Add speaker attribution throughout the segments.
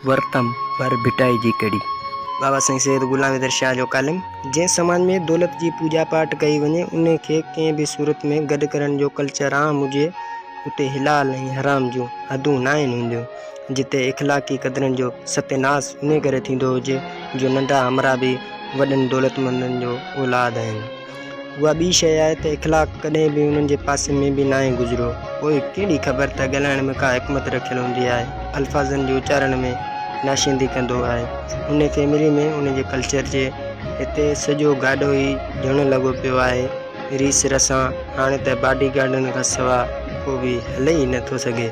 Speaker 1: ورتم پر ڀٽائي جي ڪڙي. بابا سائين سيد غلام حيدر شاهه جو ڪالم، جنهن سماج ۾ دولت جي پوڄا پاٽ ڪئي وڃي، ان کي ڪنهن به صورت ۾ گڏ ڪرڻ جو ڪلچر عام هجي، اتي حلال ۽ حرام جون حدون ناهن هونديون، جتي اخلاقي قدرن جو ستياناس انهي ڪري ٿيندو هجي، جو ننڍا همراهه به وڏن دولتمندن جو اولاد آهن. اها ٻي شيء آهي ته اخلاق ڪڏهن به انهن جي پاسي ۾ به ناهي گذريو. پوء ڪهڙي خبر ته ڳالهائڻ ۾ ڪا حڪمت رکيل هوندي آهي. الفاظن جي اچارڻ ۾ ناشيندي ڪندو آهي. انهيء فيملي ۾ ان جي ڪلچر جي هتي سڄو گاڏو ئي جهڻ لڳو پيو آهي. ريس رسان هاڻي ته باڊي گارڊن کان سوا ڪو به هلي ئي نه ٿو سگهي.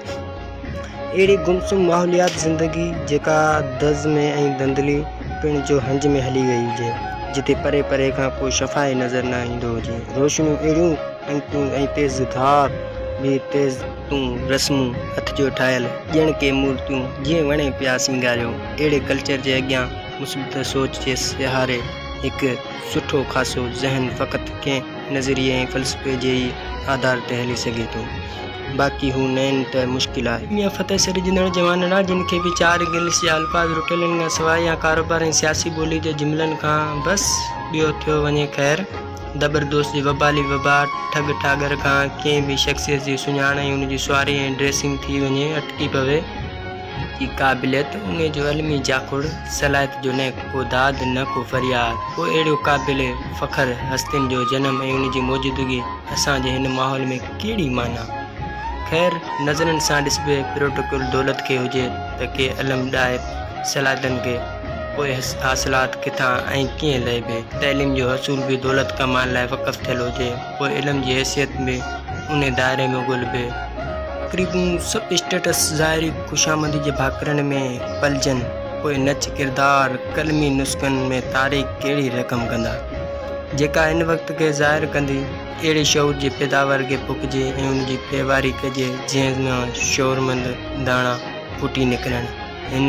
Speaker 1: اهڙي گمسم ماحوليات زندگي جيڪا دز ۾ ۽ ڌنڌلي پڻ جو هنج ۾ هلي وئي هجي، جتي پري پري کان ڪو شفا ئي نظر نه ايندو هجي. روشنيون اهڙيون ۽ تون ۽ تيز ڌار به تيز تون رسمون هٿ جو ٺاهيل ڄڻ ڪي مورتيون جيئن وڻي پيا سينگاريو. اهڙي ڪلچر جي اڳيان مثبت سوچ جي سهاري هڪ سٺو خاصو ذهن فقط ڪنهن نظريي ۽ فلسفي جي ئي آڌار تي هلي سگهي ٿو. باقي هو نئين ته مشڪل آهي. ميان فتح سري جندڙ جوان ڙا جن کي به چار انگلش جا الفاظ رٽيلن کان سواء يا ڪاروبار ۽ سياسي ٻولي جي جملن کان بس ٻيو ٿيو وڃي خير دٻر دوست جي وبالي وبا ٺڳ ٺاڳر کان ڪنهن به شخصيت جي سڃاڻ ۽ ان جي سواري ۽ ڊريسنگ ٿي وڃي اٽڪي پوي. جي قابليت ان جو علمي جاکوڙ صلاحيت جو نه ڪو داد نه ڪو فرياد ڪو اهڙيو قابل فخر هستين جو جنم ۽ ان جي موجودگي اسان جي هن ماحول ۾ ڪهڙي معنيٰ؟ خير، نظرن سان ڏسبي پروٽوڪول دولت کي هجي ته ڪي علم ڏائي صلاحيتن کي، پوء حاصلات ڪٿان ۽ ڪيئن لهبي؟ تعليم جو حصول به دولت ڪمائڻ لاء وقف ٿيل هجي، پوء علم جي حيثيت به انهي دائري ۾ ڳولهبي. تقريبون سڀ اسٽيٽس ظاهري خوشامندي جي ڀاڪرن ۾ پلجن، پوء نچ ڪردار قلمي نسخن ۾ تاريخ ڪهڙي رقم ڪندا، جيڪا هن وقت کي ظاهر ڪندي؟ اهڙي شعور جي پيداوار کي پوکجي ۽ ان جي پيواري ڪجي، جنهن مان شعورمند داڻا ڦٽي نڪرن، هن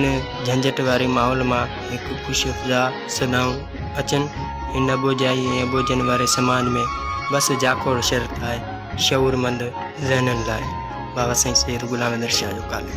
Speaker 1: جهنجهٽ واري ماحول مان هڪ خوش افزا صدائون اچن، هن اٻوجهائي ۽ اٻوجهن واري سماج ۾ بس جاکوڙ شرط آهي، شعورمند ذهنن لاء. بابا سائين سيد غلام حيدر شاهه جو ڪالم.